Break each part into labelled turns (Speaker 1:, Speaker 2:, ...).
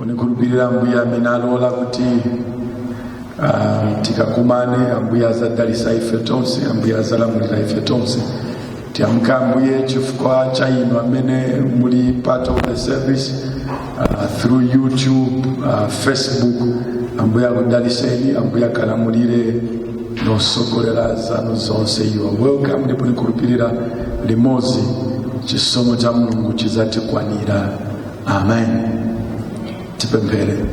Speaker 1: nikhulupirira ambuye amene alola kuti ah, tikakumane ambuye azadalisa ife tonse ambuye azalamulira ife tonse tiyamika ambuye chifukwa cha inu amene muli part of the service uh, through youtube uh, facebook ambuye akudaliseni ambuye akalamulire nosogolera zanu zonse you are welcome ndipo nikhulupirira limodzi chisomo cha mulungu chizatikwanira amen tipemphere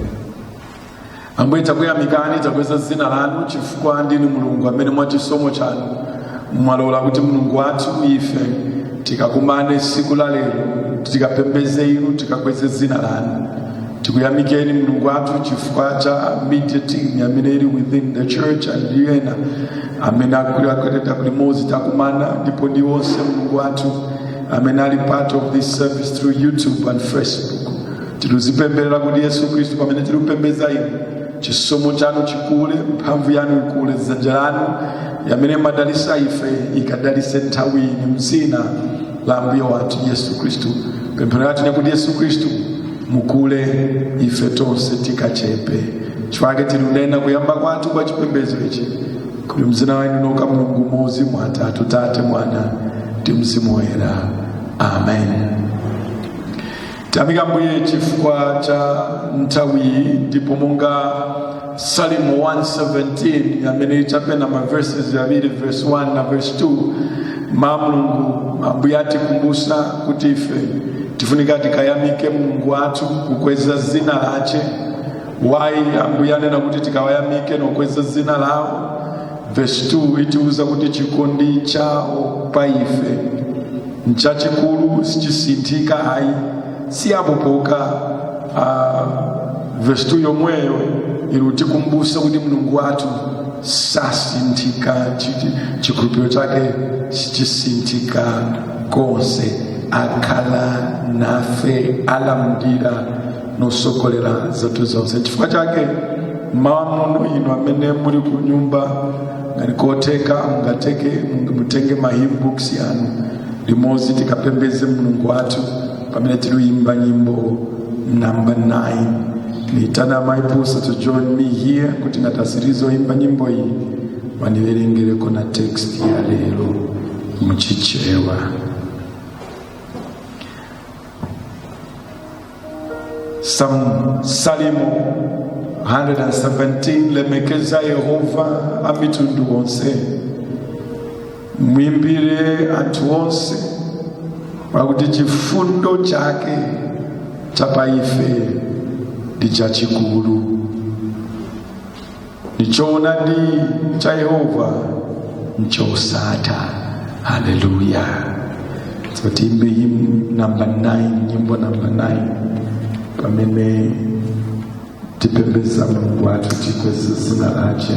Speaker 1: ambuye takuyamikani takweza dzina lanu chifukwa ndinu mulungu amene mwa chisomo chanu mwalola kuti mulungu wathu ife tikakumane tsiku la lero tikapembeze inu tikakweze dzina lanu tikuyamikeni mulungu wathu chifukwa cha media team amene ili within the church ndi ena amene akuleta kuti limozi takumana ndipo ndi onse mulungu wathu amene ali part of this service through youtube and facebook tiluzipemberera kuti yesu khristu pamene tilupembedza inu chisomo chanu chikule mphamvu yanu ikule dzanja lanu yamene madalisa ife ikadalise nthawi ino mzina la mbuye wathu yesu khristu pemphero yathu nekuti yesu khristu mukule ife tonse tikachepe chifake tilunena kuyamba kwathu kwa chipembedzo ichi kuli mzina wanu noka mulungu mozi mwa atatu tate mwana ndi mzimu woyera amen Tiyamika Ambuye chifukwa cha nthawiyi ndipo monga Salimo 117 amene ichapena ma verses yaviri verse 1 na verse 2 ma Mulungu Ambuye atikumbusa kuti ife tifunika tikayamike Mulungu wathu kukweza zina lache wayi Ambuye anena kuti tikawayamike nokweza zina lawo vesi 2 itiuza kuti chikondi chawo pa ife nchachikulu sichisinthika ayi si apo pokha ah, vesi 2 yomweyo ilutikumbusa kuti mulungu wathu sasinthika chiti- chikhulupiriro chake sichisinthika konse akhala nafe alamdira nosogolera zathu zonse chifukwa chake mmawa muno inu amene muli ku nyumba ngati kotheka mungatenge mutenge ma hymn books yanu limodzi tikapembeze mulungu wathu pamene tiluyimba nyimbo number 9 niitana my pastor to join me here kuti ngatasirizo yimba nyimbo iyi waniwerengereko na text ya lero muchichewa Sam, Salimo 117 lemekeza Yehova amitundu onse mwimbire anthu onse pakuti chifundo chake chapa ife ndi chachikulu ndi choonadi cha yehova nchosatha haleluya so tiimbe hymn number 9 nyimbo number 9 pamene tipembeza mulungu wathu tikweze zina lache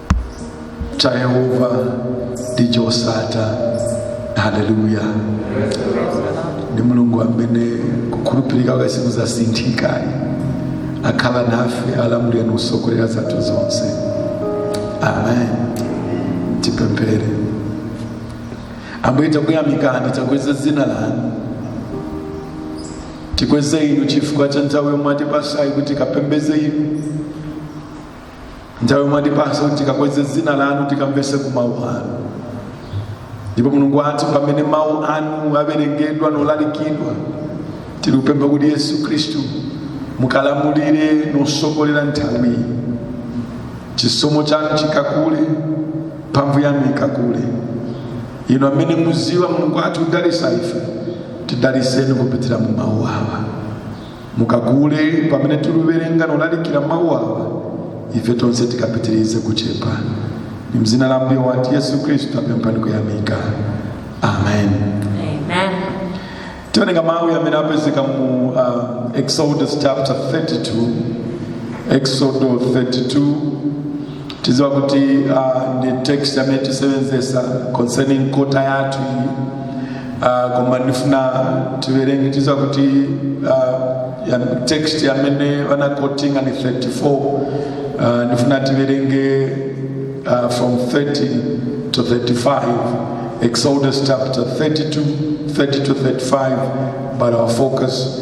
Speaker 1: cha yehova ndi chosatha haleluya ndi mulungu amene kukhulupirika kwake sikuzasinthika akhala nafe alamulira nikusogolera zathu zonse amen tipemphere ambuye takuyamikani takweza dzina lanu tikweze inu chifukwa cha nthawi yomwe mwatipasayi kuti tikapembeze inu nthawi yomwe mwatipasa kuti tikakweze dzina lanu tikamvese ku mawu anu ndipo mulungu wathu pamene mawu anu awerengedwa nolalikidwa tilikupempha kuti yesu khristu mukalamulire nosogolera nthawiyi chisomo chanu chikakule mphamvu yanu ikakule inu amene muziwa mulungu wathu kudalisa ife tidaliseni kupitira mu mawu awa mukakule pamene tikuwerenga nolalikira mawu awa ife tonse tikapitirize kuchepa ni mzina la mbuye wathu yesu khristu tapempha ndi kuyamika amen Amen. tiwerenga mawu amene apezeka mu uh, exodus chapter 32 exodo 32 tidziwa kuti uh, ndi text yamene tisebenzesa concerning kota yathu iyi uh, koma ndifuna tiwerenge tidziwa kuti uh, text yamene wanakotinga ni 34 uh, ndifuna tiwerenge uh, from 30 to 35 exodus chapter 32 30 to 35 but our focus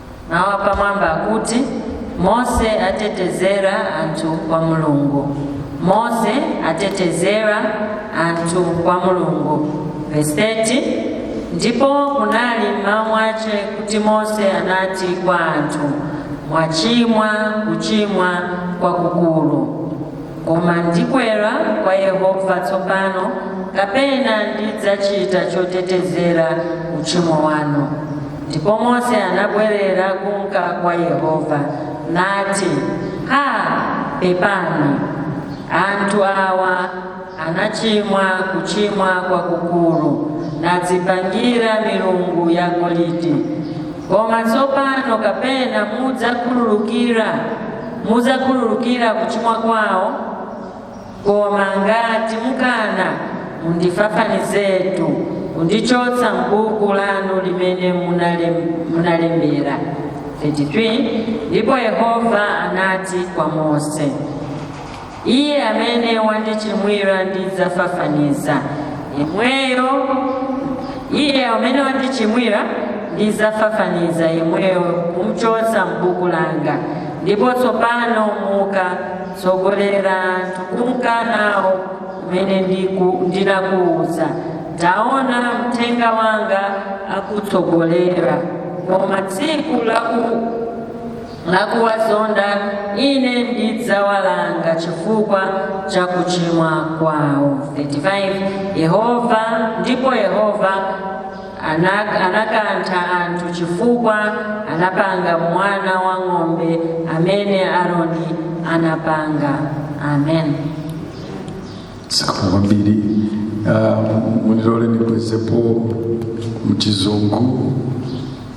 Speaker 2: mawu apamwamba akuti mose atetezera anthu kwa mulungu mose atetezera anthu kwa mulungu vesi 30 ndipo kunali mmawa mwache kuti mose anati kwa anthu mwachimwa kuchimwa kwakukulu Koma ndikwera kwa Yehova tsopano, kapena ndidzachita chotetezera uchimo wanu. Ndipo Mose anabwerera kunka kwa Yehova, nati, Ha, pepani, anthu awa anachimwa kuchimwa kwakukulu, nadzipangira milungu ya golidi. Koma tsopano kapena mudzakhululukira mudzakhululukira kuchimwa kwawo koma ngati mukana mundifafanizetu kundichotsa m'buku lanu limene munalembera 33 ndipo yehova anati kwa mose Iye amene wandichimwira ndidzafafaniza yemweyo, iye amene wandichimwira ndidzafafaniza yemweyo kumchotsa m'buku langa. Ndipo tsopano muka, tsogolera anthu kunka nawo kumene ndiku- ndinakuwuza. Taona mthenga wanga akutsogolera, koma tsiku la ku- lakuwazonda ine ndidzawalanga chifukwa cha kuchimwa kwawo 35 yehova ndipo yehova anak- anakantha anthu chifukwa anapanga mwana wa ng'ombe amene aroni anapanga amen
Speaker 1: zikomo kwambiri Ah, munilole nibwezepo mchizungu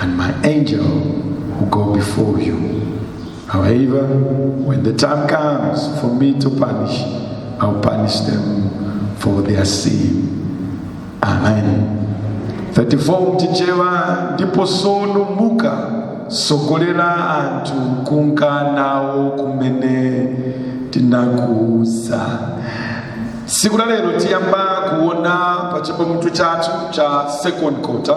Speaker 1: and my angel will go before you. However, when the time comes for me to punish, I'll punish them for their sin. Amen. 34 mchichewa ndipo sono muka sogolera anthu kunka nawo kumene ndinakuuza siku la lero tiyamba kuona pa cha pamutu chathu cha second quarter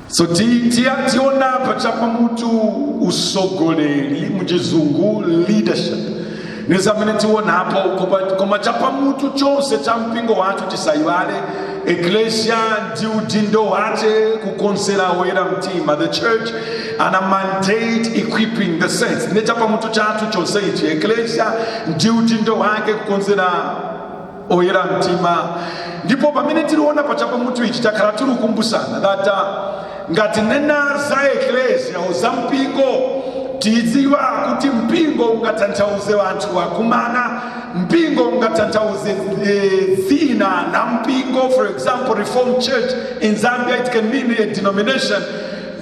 Speaker 1: so tionapo cha pamutu usogoleri muchizungu leadership nizamene tionapo koma cha pamutu chonse cha mpingo wathu tisayiwale eklesia ndi udindo wake kukonzera oyera mtima the church and her mandate equipping the saints ne cha pamutu chathu chonse ichi eklesia ndi udindo wake kukonzera oyera mtima ndipo pamene tiliona pa chapamutu ichi takhala tilikumbusana data ngati nena za eklesia za mpingo tidziwa kuti mpingo ungatanthauze wanthu wakumana mpingo ungatanthauze eh, dzina la mpingo for example reformed church in zambia it can mean a denomination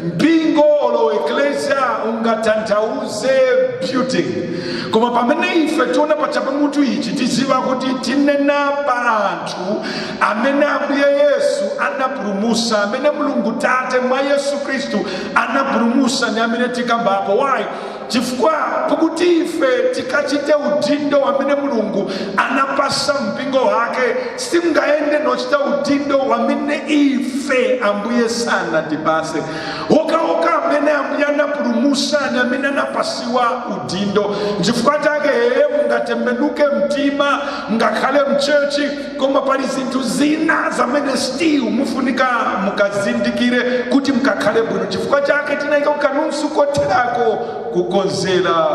Speaker 1: mpingo olo eklesia ungatanthauze building koma pamene ife tiona pa chapamutu ichi tiziva kuti tinena pa anthu amene ambuye yesu anapulumusa amene mulungu tate mwa yesu khristu anapulumusa ni amene tikambapo why chifukwa kuti ife tikachite udindo wamene mulungu anapasa mpingo wake simngayende nochita udindo wamene ife ambuye sanatipase wokawoka amene ambuye anapulumusani amene anapasiwa udindo chifukwa chake yeye mungatembenuke mtima ngakhale mchechi koma pali zinthu zina zamene still mufunika mukazindikire kuti mukakhale bwino chifukwa chake tinayika kukamunsu kotereko kukonzera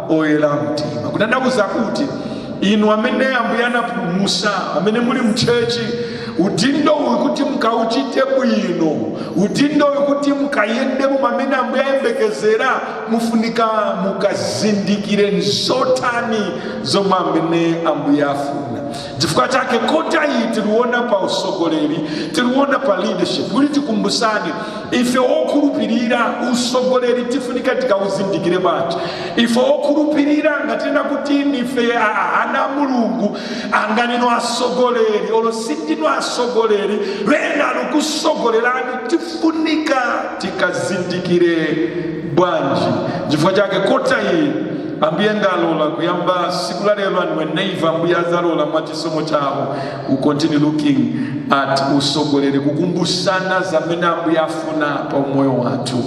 Speaker 1: oyera mtima kutanthauza kuti inu amene ambuye anapulumusa amene muli mchechi udindo uyu kuti mukauchite bwino udindo uyu kuti mukayendemo mamene ambuye ayembekezera mufunika mukazindikire ni zotani zomwe amene ambuye afuna chifukwa chake kota iyi tiliona pa usogoleri tiliona pa leadership kuti tikumbusane ife okhulupirira usogoleri tifunika tikawuzindikire bwanji ife okhulupirira ngatina kuti nife a- ana a mulungu ngati ndinu asogoleri olo sindinu asogoleri wena alukusogolerani tifunika tikazindikire bwanji chifukwa chake kota iyi ambuye ngalola kuyamba siku la lero and whenever ambuye azalola mwa chisomo chawo we'll continue looking at usogoleri kukumbusana zamene ambuye afuna pa umoyo wathu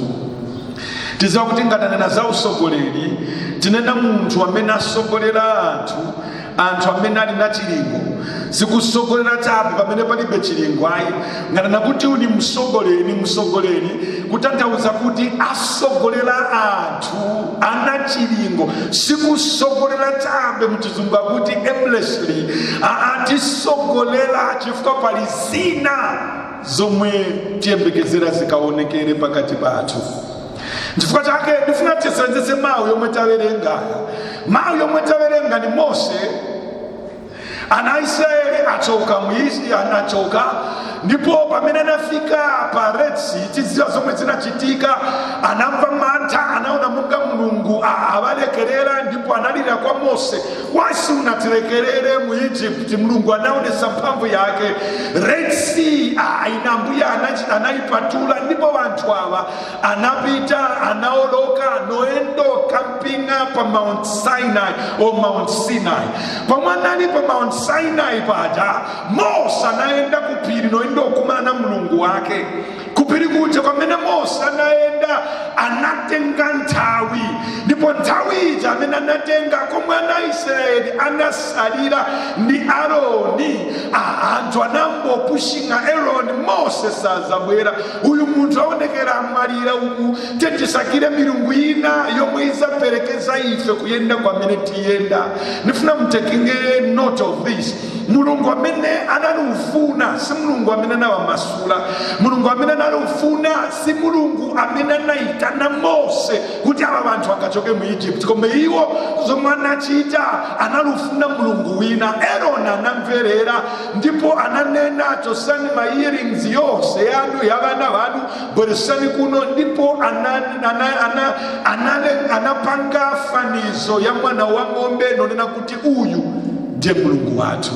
Speaker 1: tiziwa kuti nga tanena za usogoleri tinena munthu amene asogolera anthu anthu amene ali na chilingo sikusogolera chabe pamene palibe chilingo ayi nga tanena kuti uyu ni msogoleri msogoleri kutanthauza kuti asogolera anthu ali na chilingo sikusogolera chabe mchizungu akuti aimlessly aa tisogolera chifukwa pali zina zomwe tiyembekezera zikaonekere pakati pathu chifukwa chake ndifuna tisenzese mawu yomwe tawerenga mawu yomwe tawerenga ni mose ana israeli achoka muisraeli anachoka ndipo pamene anafika pa red sea tiziwa zomwe zinachitika anamva mantha anaona monga mulungu a- awalekerera ndipo analira kwa mose was unatilekerera mu egypt mulungu anaonesa mphamvu yake red sea a- ine ambuye anachi- anayipatula ndipo wanthu awa anapita anaoloka noendo kamping'a pa mount sinai o mount sinai pomwe anali pa mount sinai paja mose anayenda kuphiri noenda okumana na mulungu wake kuphiri kuja kwamene mose anayenda anatenga nthawi ndipo nthawi ija amene anatenga komwe ana israeli anasalira ndi aroni aanthu anambopushing'a aroni mose sazabwera Uyu munthu aonekera amwalira uku tetisakire milungu ina yomwe izaperekeza ife kuyenda kwamene tiyenda nifuna mutakinge note of this mulungu amene anali ufuna si mulungu amene anawamasula mulungu amene anali ufuna si mulungu amene anayitana mose kuti aba vanthu akachoke mu egypt koma iwo zomwe anachita anali ufuna mulungu wina aroni anamverera ndipo ananena chotsani ma earrings yose yanu ya vana vanu bweretsani kuno ndipo anapanga fanizo ya mwana wa ng'ombe nonena kuti uyu ndiye mulungu wathu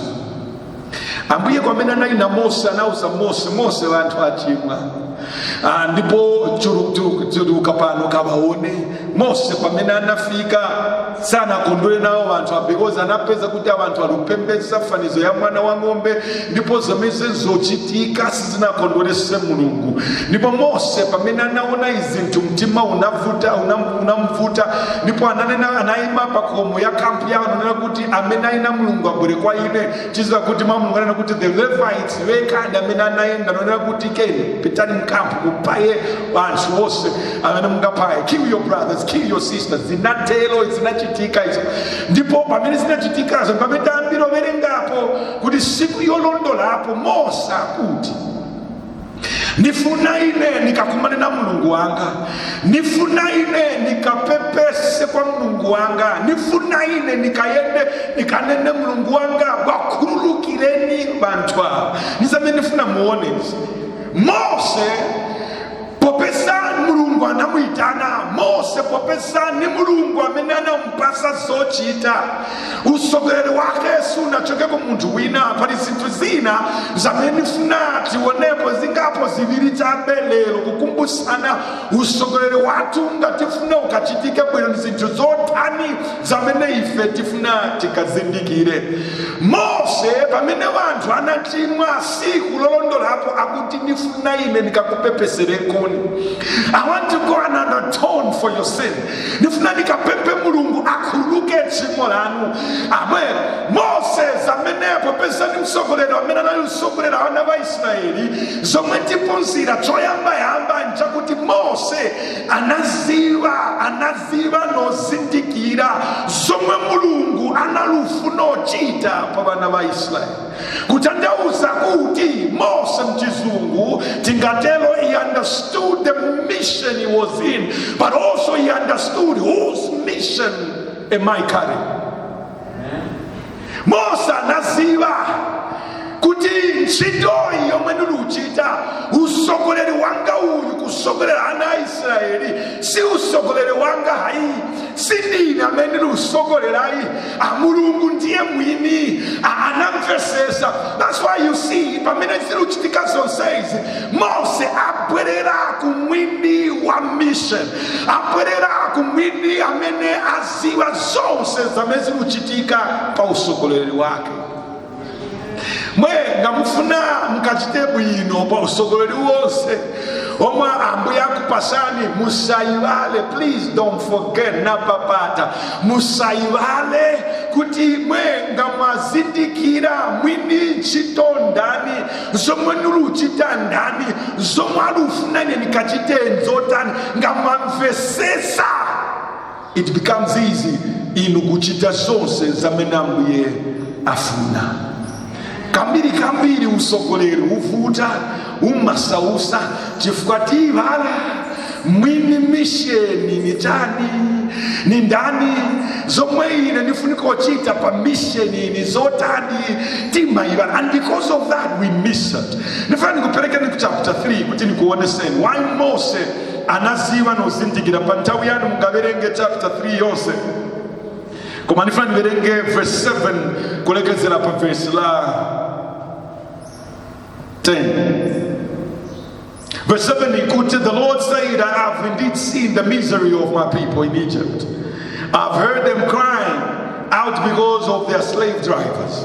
Speaker 1: ambuye kwamene anali na mose anauza mose mose vanthu achimwa ndipo chiruka pano kabaone mose pamene anafika sanakondwere nawo vanthu because anapeza kuti avanthu ali kupembedza fanizo ya mwana wa ng'ombe ndipo zomese zochitika sizinakondwerese mulungu ndipo mose pamene anaona izinthu mtima unavuta unam- unamvuta ndipo ananena anayima pakomo ya kampu yawo ananena kuti amene ali na mulungu abwere kwa ine tiziwa kuti mau anena kuti the levites wekadi ndi amene anayenda nonena kuti pitani mkampu kupaye vanthu vonse amene mungapaye kill your brothers kill your sisters zinatero zinachitika izo ndipo pamene zinachitikazo pamene tayambira owerengapo kuti siku yolondolapo mose akuti nifuna ine nikakumane na mulungu wanga nifuna ine nikapepese kwa mulungu wanga nifuna ine nikayende nikanene mulungu wanga wakhululukireni banthu awa nizamene nifuna muone izi mose popeza mulungu anamuyitana mose popeza ni mulungu amene anampasa zochita usogoleri wake sunachoke ku munthu wina pali zinthu zina zamene nifuna tionepo zingapo ziviri chabe lero kukumbusana usogoleri wathu ngatifuna ukachitike bwino ni zinthu zotani zamene ife tifuna tikazindikire mose pamene wanthu anachimwa siku lolondolapo akuti nifuna ine nikakupepeserekoni i want to go and atone for your sin nifuna nikapemphe mulungu akhululuke tchimo lanu amen moses amenepo penzani msogoleri amene anali msogoleri wa ana wa israeli zomwe tiphunzira choyambayamba nchakuti mose anaziva anaziva nozindikira zomwe mulungu analufuno chita pa vana va israeli kutanthauza kuti mose mchizungu tingatero he understood the mission he was in but also he understood whose mission am i carrying mose anaziva kuti ntchito iyi yomwe ndiluchita usogoleri wanga uyu kusogolera ana a israeli si usogoleri wanga hayi si ndine amene ndilusogolera hayi mulungu ndiye mwini Ah, anamvesesa that's why you see pamene ziluchitika zonsezi mose abwerera ku mwini wa mission abwerera ku mwini amene aziva zonse zamene ziluchitika pa usogoleri wake mwe ngamufuna mukachite bwino pa usogoleli wonse omwe ambuye akupasani musayivale please don't forget napapatira musayivale kuti mwe ngamwazindikira mwini ntchito ndani zomwe niluchita ndani zomwe alufuna ine nikachite nzotani ngamwamvesesa It becomes easy inu kuchita zonse zamene ambuye afuna kambiri kambiri usogoleri uvuta umasausa chifukwa tiivala mwini misheni ni tani ni ndani zomwe ine nifuniko chita pa misheni ni zotani timayivala and because of that we miss it nifuna nikuperekeni ku chapter 3 kuti nikuoneseni why mose anaziva nozindikira pa nthawi yanu mungaverenge chapter 3 yonse koma nifuna niverenge verse 7 kulekezera pa verse la 10 Verse 7 ikuti, The Lord said, I have indeed seen the misery of my people in Egypt. I've heard them crying out because of their slave drivers.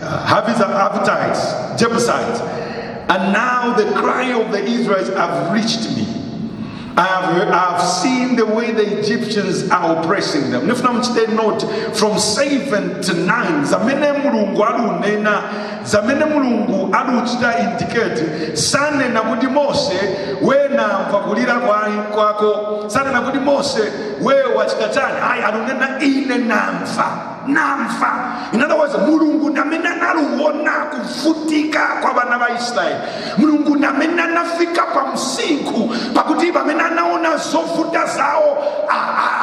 Speaker 1: Hivites, Hittites, Jebusites. And now the cry of the Israelites have reached me. I have seen the way the Egyptians are oppressing them. Nifuna mchite note from 7 to 9 zamene mulungu alunena zamene mulungu aluchita indicate sanena kuti mose wenamva kulira kwa ngwako sanena kuti mose we wachita chani ayi alunena ine namva namva in other words mulungu namene analuona kuvutika kwa vana va israeli mulungu namene anafika pa msinkhu pakuti vamene anaona zovuta zawo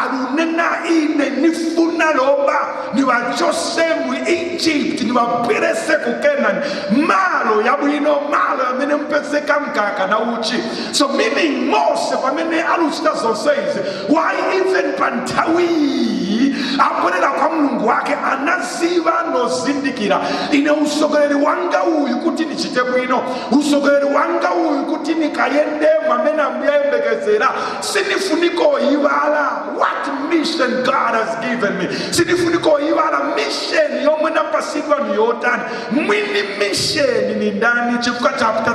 Speaker 1: alunena ine nifuna loba nivachose mu egypt nivabwerese ku kenani malo yabwino malo yamene mpezeka mkaka na uchi so meaning mose pamene aliuchita zonse izi why even pa nthawiyi abwerera kwa mulungu wake anaziva nozindikira ine usogoleri wanga uyu kuti nichite bwino usogoleri wanga uyu kuti nikayende mwamene ambuye ayembekezera sinifunika oyivala what mission god has given me sinifunika oyivala mission yomwe napasidwa ni yotani mwini mission ni ndani chifukwa chapter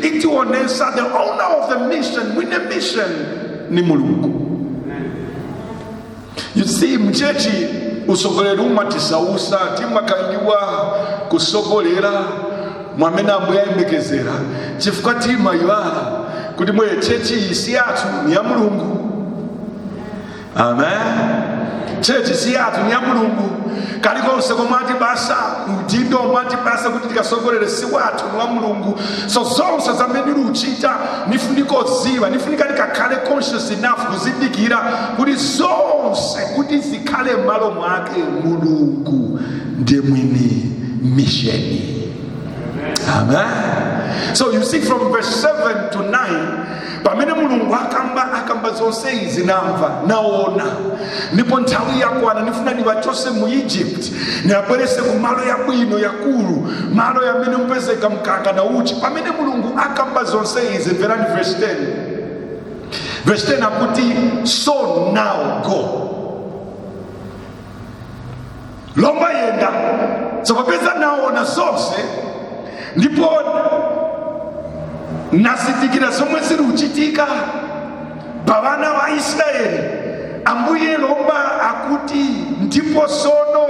Speaker 1: 3 itionesa the owner of the mission mwine mission ni mulungu you see mchechi usogoleri umatisausa timakangiwa kusogolera mwamene ambuye ayembekezera chifukwa timayiwala kuti mweye chechi isi yathu ni ya mulungu amen chechi siyatu ni ya mulungu kalikonse komwe atipasa udindo omwe atipasa kuti tikasogolere si wathu ni wa mulungu so zonse zamene luchita nifunika oziva nifunika tikakhale conscious enough kuzindikira kuti zonse kuti zikhale m'malo mwake mulungu ndiye mwini misheni amen so you see from verse 7 to 9 pamene mulungu akamba akamba zonse izi namva naona ndipo nthawi yakwana nifuna ndiwachose mu egypt niwabwerese ku malo yabwino yakulu malo yamene mupezeka mkaka na uchi pamene mulungu akamba zonse izi mverani verse 10 verse 10 akuti so now go lomba yenda so apeza naona zonse ndipo nazindikira zomwe ziri kuchitika pa vana va israeli ambuye lomba akuti ndipo sono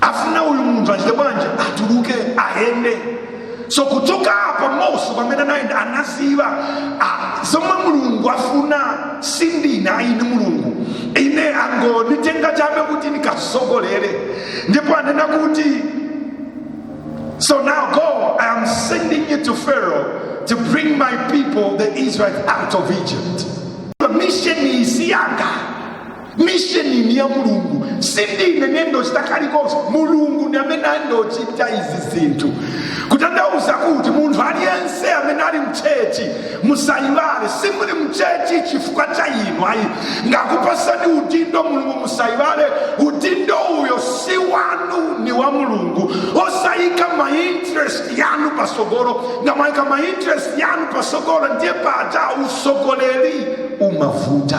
Speaker 1: afuna uyu munthu achite bwanji atuluke ayende so kuchoka apa mose pamene anayenda anaziva ah, zomwe mulungu afuna sindine ayi ni mulungu ine angonitenga chabe kuti nikasogolere ndipo anena kuti So now go, I am sending you to Pharaoh to bring my people, the Israelites, out of Egypt. The mission si yanga. misheni ni ya mulungu sindine nendochita kalikonse mulungu ndi amene andochita izi zinthu kutanthauza kuti munthu aliyense amene ali mchechi musayiwale simuli mchechi chifukwa cha inu ayi ngakupasani udindo mulungu musayiwale udindo uyo si wanu ni wa mulungu osayika mainterest yanu pasogolo ngamayika mainterest yanu pasogolo ndiye paja usogoleri umavuta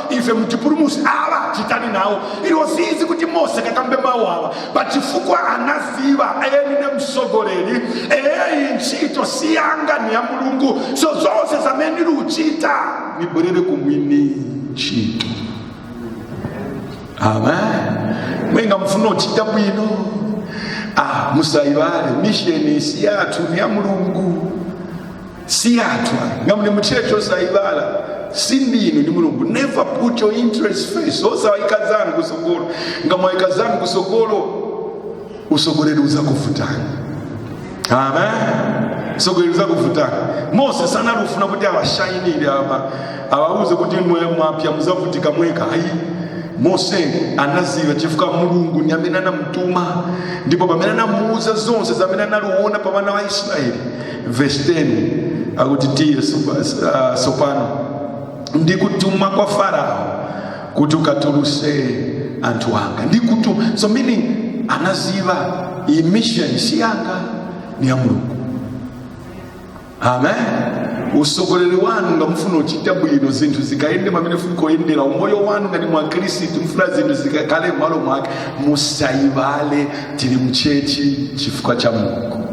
Speaker 1: ife mutipulumuse awa chitani nawo ilo ziziwa kuti mose kakambe mawu awa pachifukwa anaziva nine msogoleri iyi ntchito siyanga ni ya mulungu so zonse zamene niliuchita nibwerere kumwini ntchito amen mwe ngamufuna uchita bwino ah, musayivale mission si yathu ni ya mulungu si yathu ngamuli mutchetchi osayibala sindinu ni mulungu never put your interest first osawayika zanu kusogolo ngamwayika zanu kusogolo usogoleli uzakuvutani amen usogoleli uzakuvutani mose sanali ufuna kuti awashayinire apa awauze kuti mwe mwapya muzavutika mweka ayi mose anaziva chifukwa mulungu ni amene anamutuma ndipo pamene anamuuza zonse zamene analiuona pa wana wa israeli vesi 10 akuti tiye sopa- s- ah, sopano ndikutuma kwa farao kuti ukatuluse anthu anga ndikutuma so meaning anaziva iyi mission si yanga ni ya mulungu amen usogoleri wanu ngamufuna uchita bwino zinthu zikayende mwamene zifunika oyendera umoyo wanu ngati mwakhristu mufuna zinthu zikakale m'malo mwake musayivale tili mchechi chifukwa cha mulungu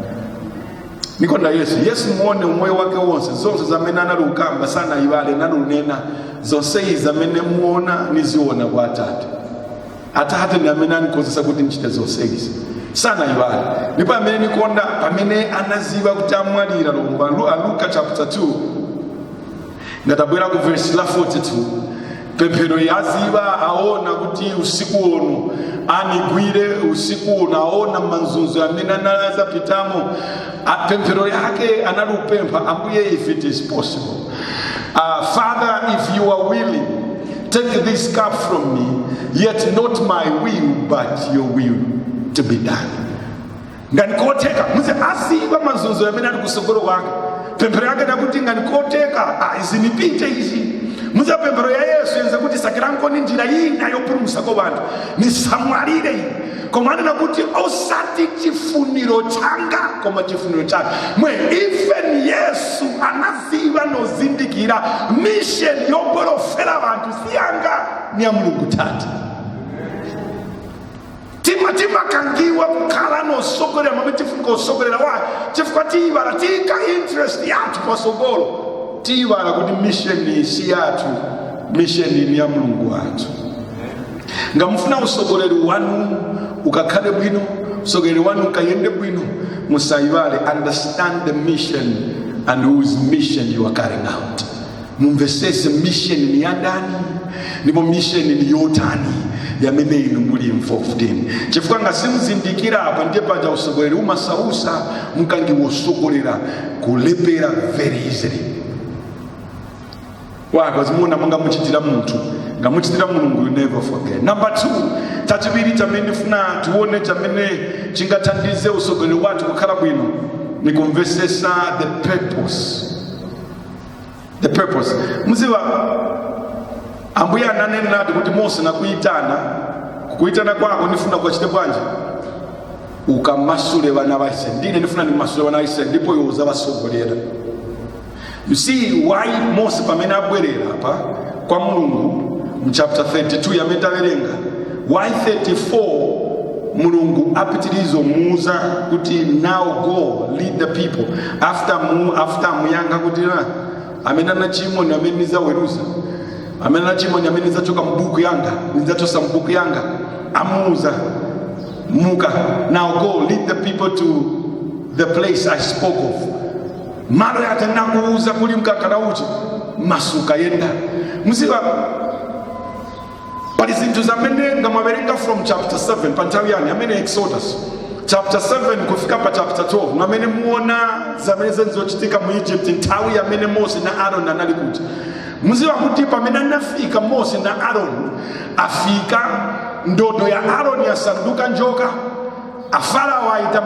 Speaker 1: nikonda yesu yesu muone umoyo wake wonse zonse zamene anali ukamba sanayibale nali unena zonseyi zamene muona niziona kwa atate atate ndi amene anikhozesa kuti nichite zonse izi sanayibale ndipo amene nikonda pamene anaziba kuti amwalira lomba Lu- a luka chapter 2 nga tabwera ku vesi la 42 pemphero yaziba aona kuti usiku uno anigwire usiku uno aona manzunzo amene anali azapitamo A- pemphero yake analupempha ambuye if it is possible uh, father if you are willing take this cup from me yet not my will but your will to be done ngati kotheka muze asiiba mazunzo yamene ali kusogolo kwanga pemphero yake nakuti ngati koteka ah, izi nipite izi muze pemphero ya yesu yenza kuti sakirankoni njira ina yopulumusako banthu nisamwalire ine koma anena kuti osati chifuniro changa koma chifuniro chake mwe even yesu anaziva nozindikira misheni yoporofera vanthu siyanga ni ya mulungu tati tima timakangiwa kukhala nosogolera mwamene tifunika usogolera why chifukwa tiyiwala tiyika interest yathu pasogolo tiyiwala kuti misheni si yathu misheni ni ya mulungu wathu nga mufuna usogoleri wanu ukakhale bwino usogoleri wanu ukayende bwino musayiwale understand the mission and whose mission you are carrying out mumvesese mission ni ya ndani ndipo mission ni yotani yamene inu muli involved in chifukwa ngasimuzindikira apa ndiye paja usogoleri umasausa mukangiwa usogolera kulephera very easily wakazimuona monga muchitira munthu nga muchitira mulungu you never forget number two chachiviri chamene funa tione chamene chingathandize usogoleri wathu kukhala bwino ni kumvesesa the purpose the purpose muziva ambuye ananenadi kuti mose nakuyitana kukuyitana kwako ndifuna kukachite bwanji ukamasule vana va israeli ndine ndifuna ndimasule vana va israeli ndipo iwe uzavasogolera you see why mose pamene abwerera apa kwa mulungu mchapter 32 yamene tawerenga why 34 mulungu apitiriza kumuuza kuti now go lead the people after mu after muyankha kuti na amene anachimwa ni amene nizaweruza amene anachimwa ni amene nizachoka mbuku yanga nizachosa mbuku yanga amuuza muka now go lead the people to the place i spoke of malo yake nakuuza kuli mkaka na uchi masuka yenda muziva pali zinthu zamene ngamawerenga from chapter 7 pa nthawi yanu yamene exodus chapter 7 kufika pa chapter 12 mwamene muona zamene zenzochitika mu egypt nthawi yamene mose na aron anali kuja muziva kuti pamene anafika mose na aron afika ndodo ya aron yasanduka njoka afarao ayita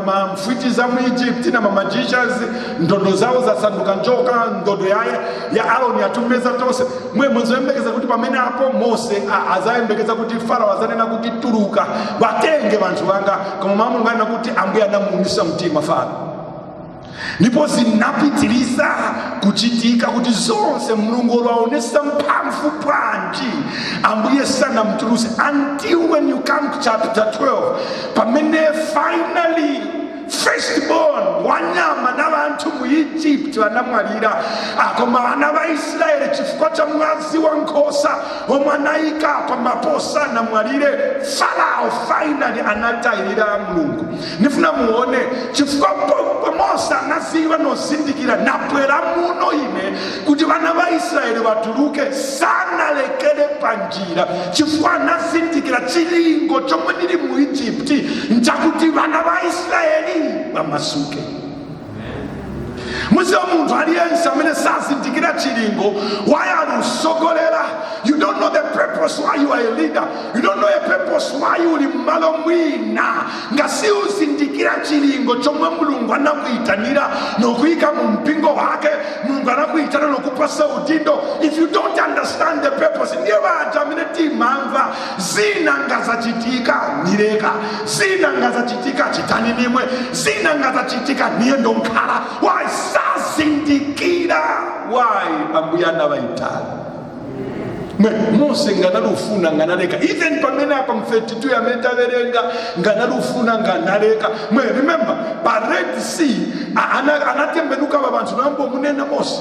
Speaker 1: mamfwiti za mu egypt na mamagicians ndodo zawo zasanduka njoka ndodo ya, ya aroni yatumeza tonse mwe muzayembekeza kuti pamene apo mose a- azayembekeza kuti farao azanena kuti tuluka batenge banthu banga koma mau a mulungu anena kuti ambuye anamuumisa mtima farao ndipo zinapitiriza kuchitika kuti zonse mulungu olwaonesa mphamvu bwanji ambuye sanamtuluse until when you come to chapter 12 pamene finally firstborn wanyama na vanthu mu egypt vanamwalira koma vana va israele chifukwa cha mwazi wa nkhosa omwe anayika pa ma post sanamwalire farao finally anatayirira mulungu ndifuna muone chifukwa pompo mose anaziwa nozindikira nabwera muno ine kuti vana va israeli vatuluke sanalekere panjira chifukwa anazindikira chilingo chomwe ndili mu egypti nchakuti vana va israeli vamasuke muziwa munthu aliyense amene sazindikira chilingo why alusogolera you don't know the purpose why you are a leader you don't know a purpose why you uli mmalo mwina nga siuzindikira chilingo chomwe mulungu anakuyitanira nokuyika mu mpingo wake mulungu anakuyitana nokupasa udindo if you don't understand the purpose ndiye vaja amene timamva zina ngazachitika nileka zina ngazachitika chitani nimwe zina ngazachitika niye ndonkhala why sazindikira why ambuye anavaitali mwe mose nganalufuna nganaleka even pamene apa mu 32 amene taverenga nganalufuna nganaleka mwe remember pa red sea a- ana- anatembenuka va vanthu nambo munena mose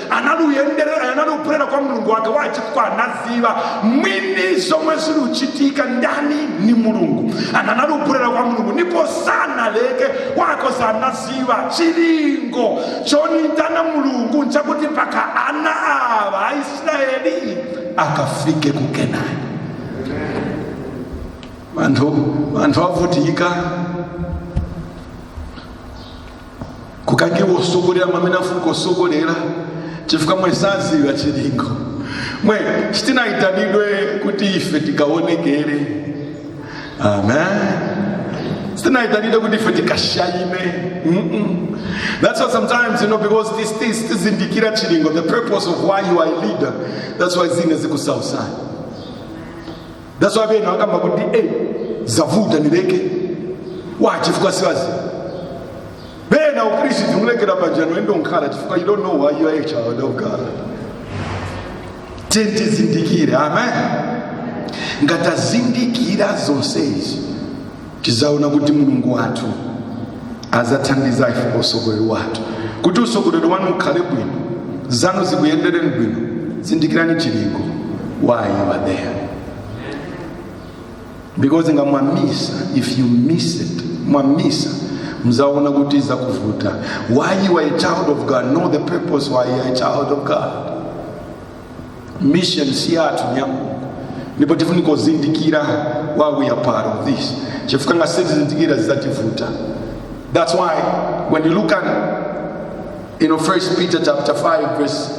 Speaker 1: anali uyenderera anali ubwerera kwa mulungu wake wachifukwa anaziva mwini zomwe ziri uchitika ndani ni mulungu anali ubwerera kwa mulungu ndipo sanaleke wachifukwa anaziva chilingo chonitana mulungu nchakuti paka ana ava aisraeli akafike ku kenani vanthu vavutika kukangiwa usogolera mwamene afunika usogolera chifukwa mwe saziwa chilingo ife sitinayitanidwe kuti ife tikaonekere amen sitinayitanidwe kuti ife tikashayime Mm-mm. that's why sometimes you know because sitizindikira chilingo the purpose of why you are a leader that's why zina zikusausa that's why bena akamba kuti eh zavuta nileke wa chifukwa siwazi bena ukristo tumulekera pajano endo nkhala chifukwa you don't know why you are a child of god tiyeni tizindikire amen nga tazindikira zonse izi tizaona kuti mulungu wathu azathandiza ife pa usogoleri wathu kuti usogoleri wanu ukhale bwino zanu zikuyendereni bwino zindikirani chilingo why you are there because nga mwamisa if you miss it mwamisa mzaona kuti zakuvuta why you are a child of god know the purpose why you are a child of god mission si yathu ndi ya mulungu ndipo tifunika kuzindikira why we are part of this chifukwa ngati sitizindikira zizativuta that's why when you look at you know first peter chapter 5 verse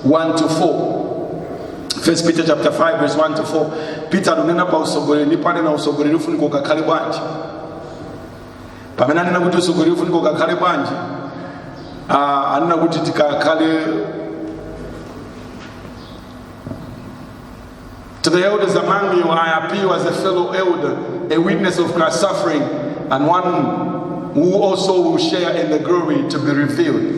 Speaker 1: 1 to 4 First Peter chapter 5 verse 1 to 4 Peter ananena pa usogoleri ndipo anena usogoleri ufunika ukakhale bwanji pamene anena kuti usogoleri ufunika ukakhale bwanji ah, anena kuti tikakhale To the elders among you, I appeal as a fellow elder, a witness of Christ's suffering, and one who also will share in the glory to be revealed.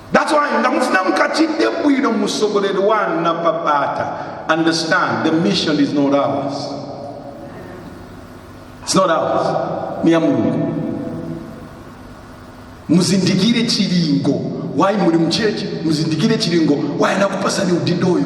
Speaker 1: That's why ndamufuna mukachite bwino musogoleri wanu na babata. Understand the mission is not ours. It's not ours. Ni ya Mulungu. Muzindikire chilingo wayi muli mchechi muzindikire chilingo wayi nakupasani udindoyo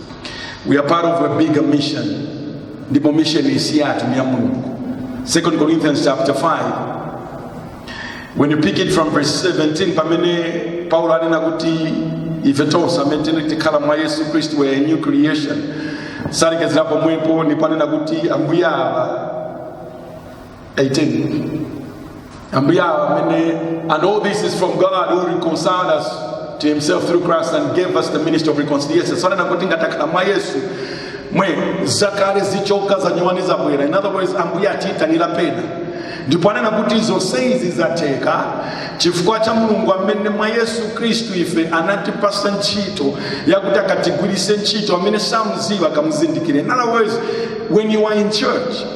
Speaker 1: We are part of a bigger mission. Ndipo mission si yathu ni ya Mulungu. 2 Corinthians chapter 5 when you pick it from verse 17 pamene Paulo anena kuti ife tonse amene tikhala mwa Yesu Kristu we are a new creation. Salekezera pomwepo ndipo anena kuti ambuye awa 18 ambuye awo amene and all this is from god who reconciled us to himself through christ and gave us the ministry of reconciliation so anena kuti ngatakhala mwa yesu mwe zakale zichoka zanyowani zabwera in other words ambuye atiyitanira apa ndipo anena kuti zonse izi zatheka chifukwa cha mulungu amene mwa yesu khristu ife anatipasa ntchito yakuti akatigwirise ntchito amene samuziwa akamuzindikire in other words when you are in church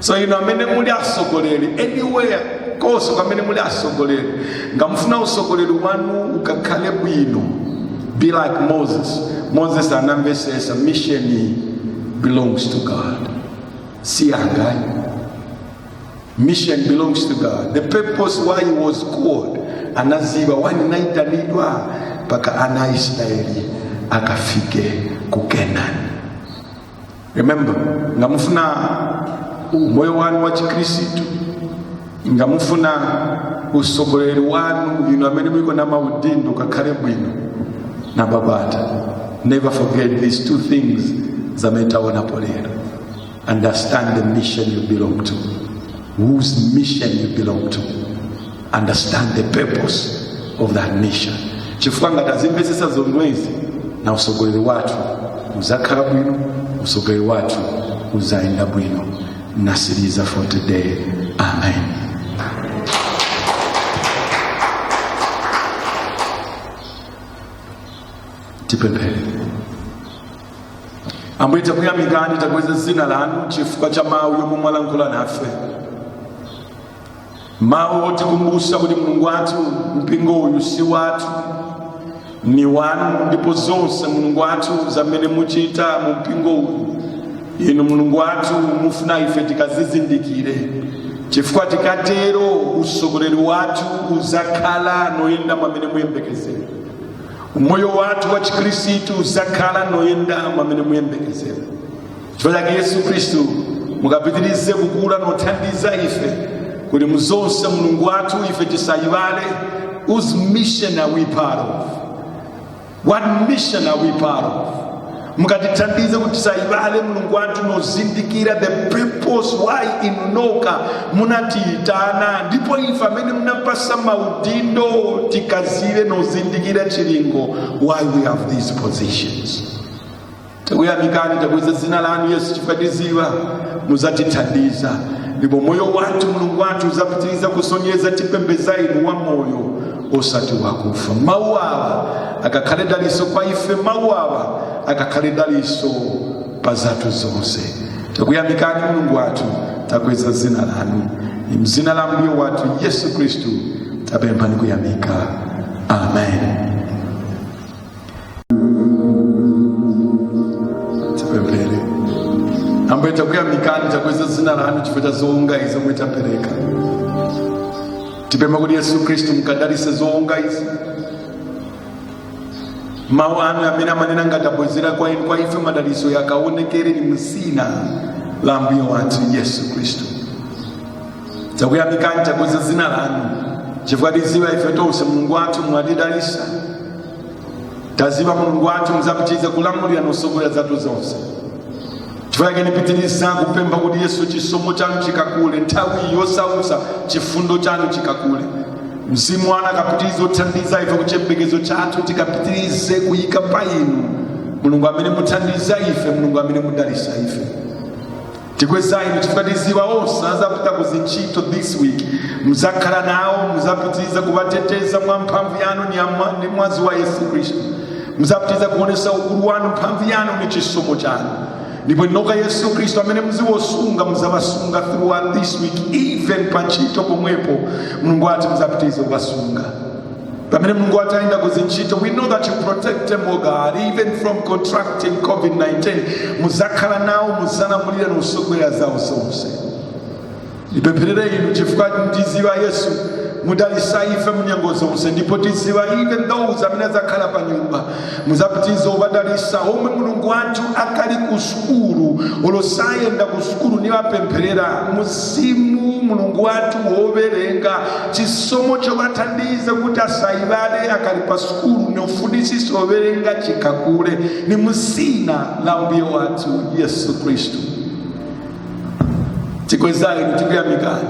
Speaker 1: so inu amene muli atsogoleri anywhere konse kumene muli atsogoleri ngamufuna utsogoleri wanu ukakhale bwino be like moses moses anamvesesa mission belongs to god si yanga ayi mission belongs to god the purpose why he was called anaziba wani naitanidwa mpaka ana a israeli akafike ku kenani remember nga mufuna umoyo wanu wa chikristu nga mufuna usogoleri wanu inu amene muliko na maudindo ukakhale bwino na babata never forget these two things zamene taonapo lero understand the mission you belong to whose mission you belong to understand the purpose of that mission chifukwa nga tazimvesesa zomwezi na usogoleri wathu uzakhala bwino usogoleri wathu uzayenda bwino nasiriza for today amen tipemphere ambuye takuyamikani takweza zina lanu chifukwa cha mawu yomwe mwalankhula nafe mawu otikumbutsa kuti mulungu wathu mpingo uyu si wathu ni wanu ndipo zonse mulungu wathu zamene muchita mu mpingo uyu inu mulungu wathu mufuna ife tikazizindikire chifukwa tikatero usogoleri wathu uzakhala noyenda mwamene muyembekezera umoyo wathu wa chikhristu uzakhala noyenda mwamene muyembekezera chifukwa chake yesu khristu mukapitirize kukula nothandiza ife kuti muzonse mulungu wathu ife tisayiwale whose mission are we part of what mission are we part of mukatithandize kuti tisayiwale mulungu wathu nozindikira the purpose why inunoka munatiyitana ndipo ife amene munapasa maudindo tikaziwe nozindikira chilingo why we have these positions takuyamikani takweza zina lanu yesu chifukwa tiziwa muzatithandiza ndipo moyo wathu mulungu wathu uzapitiriza kusonyeza tipembeza inu wa moyo osati wakufa mawu awa akakhale daliso kwa ife mawu awa akakhale daliso pa zathu zonse takuyamikani mulungu wathu takweza zina lanu ni mzina la mbuye wathu yesu khristu tapempha ni kuyamika amen tipemphere ambuye takuyamikani takweza zina lanu chifukwa cha zoonga izi omwe tapereka tipempha kuti yesu khristu mukadalise zoonga izi mawu anu amene amanena ngati tabwezera kwa inu kwa ife madaliso yakaonekere ni mzina la ambuye wathu yesu khristu takuyamikani takweza zina lanu chifukwa tiziwa ife tonse mulungu wathu mwatidalisa taziwa mulungu wathu muzapitiriza kulamulira nosogolera zathu zonse chifukwa chake nipitiriza kupempha kuti yesu chisomo chanu chikakule nthawi iyi yosausa chifundo chanu chikakule mzimu wanu akapitirize othandiza ife kuti chembekezo chathu tikapitirize kuyika pa inu mulungu amene muthandiza ife mulungu amene mudalisa ife tikweza inu chifukwa tiziwa onse azapita ku zintchito this week muzakhala nawo muzapitiriza kuwateteza mwa mphamvu yanu ni amwa- ni mwazi wa yesu khristu muzapitiriza kuonesa ukulu wanu mphamvu yanu ni chisomo chanu ndipo inoka yesu khristu amene muziwosunga muzawasunga throughout this week even pa ntchito pomwepo mulungu wathu muzapitiriza kuwasunga pamene mulungu wathu ayenda kuzintchito we know that you protect them o god even from contracting covid-19 muzakhala nawo muzalamulira nosogolela zawo zonse ndipempherere inu chifukwa ndiziwa yesu mudalisa ife munyengo zonse ndipo tiziwa even those amene azakhala pa nyumba muzapitize ubadalisa omwe mulungu wanthu akali ku sukulu olosayenda ku sukulu nivapempherera musimu mulungu wathu wowerenga chisomo chovathandiza kuti asayivale akali pa sukulu nofunisisa wowerenga chikakule ni musina la mbuye wathu yesu khristu tikweza inu tikuyamikani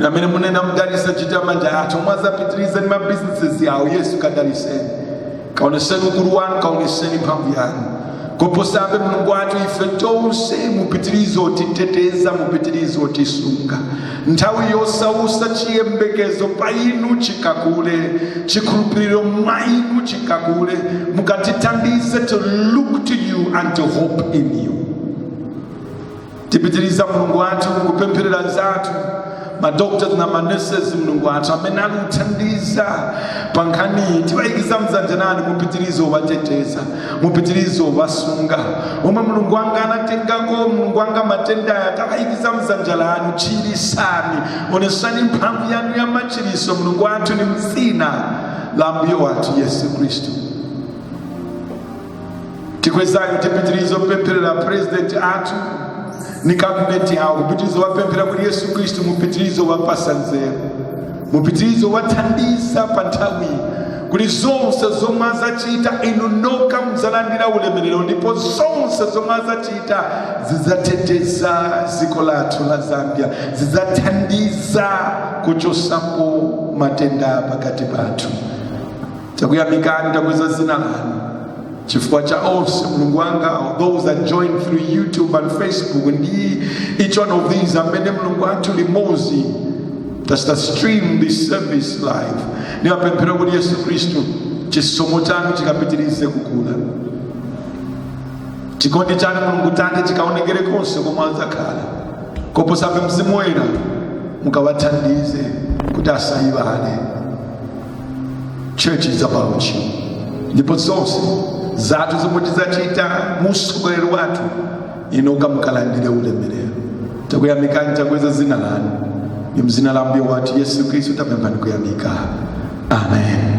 Speaker 1: amene munena mudalisa nchito za manja athu omwe azapitiriza ni mabusinesses yawo yesu kadaliseni kaoneseni ukulu wanu kaoneseni mphamvu yanu koposabe mulungu wathu ife tonse mupitirize otiteteza mupitirize otisunga nthawi yosausa chiyembekezo pa inu chikakule chikhulupiriro mwa inu chikakule mukatithandize to look to you and to hope in you tipitiriza mulungu wathu kupempherera zathu madoctors na manurses mulungu wathu amene akuthandiza pa nkhaniyi tiwayikiza mdzanja lanu mupitirize uwateteza mupitirize uwasunga omwe mulungu wanga anatengako mulungu wanga matenda aya tawayikiza mdzanja lanu chirisani onesani mphamvu yanu ya machiriso mulungu wathu ni mzina la mbuye wathu yesu khristu tikweza inu tipitirizo pempherera purezidenti athu ni kabineti yawo mupitirizo wapemphera kuti yesu khristu mupitirizo wapasa nzeru mupitirizo wathandiza pa nthawi kuti zonse zomwe azachita inu nokha mudzalandira ulemerero ndipo zonse zomwe azachita zidzateteza dziko lathu la zambia zidzathandiza kuchosapo matenda pakati pathu takuyamikani takweza dzina lanu chifukwa cha onse mulungu wanga those that join through youtube and facebook ndi each one of these mmene mulungu athu limodzi tachita stream this service live niwapemphera kuti yesu khristu chisomo chanu chikapitirize kukula chikondi chanu mulungu tate chikaonekere konse komwe adzakhala koposabe mzimu woyera mukawathandize kuti asayiwale church is about you ndipo zonse zathu zomwe tidzachita musukulu wathu inu noka mukalandire ulemerero takuyamikani takweza zina lanu ni mzina la mbuye wathu yesu kristu tapempha ni kuyamika amen